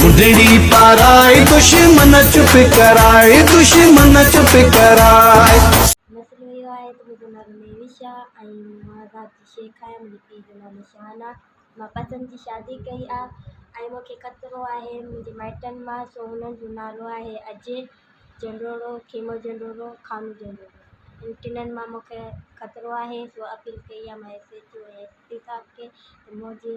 ٻڍڙي پارائي دشمن چپ ڪرائي دشمن چپ ڪرائي. نسل اهو آهي ته منهنجو نالو مهوش آ ۽ مان ذات جي شيخ آهيان منهنجي پيء جو نالو شان آ مان پسند جي شادي ڪئي آ ۽ مون کي خطرو آهي منهنجي مائٽن مان سو انهن جو نالو آهي اجي جنڊوڙو کيمو جنڊوڙو خانو جنڊوڙو انهن ٽنهن مان مون کي خطرو آهي سو اپيل ڪئي آ مان S H O ۽ S P صاحب کي ته منهنجي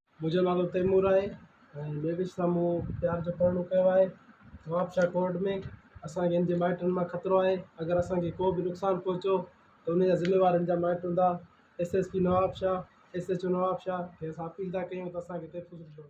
منهنجو نالو تيمور آهي ۽ ميري سان مون پيار جو پرڻو ڪيو آهي نوابشاهه ڪورٽ ۾ اسانکي هن جي مائٽن مان خطرو آهي اگر اسانکي ڪو به نقصان پهچو ته ان جا ذميوار هن جا مائٽ هوندا S S P Nawabshah S H O Nawabshah کي اسان اپيل ٿا ڪيون ته اسانکي تحفظ ڏيو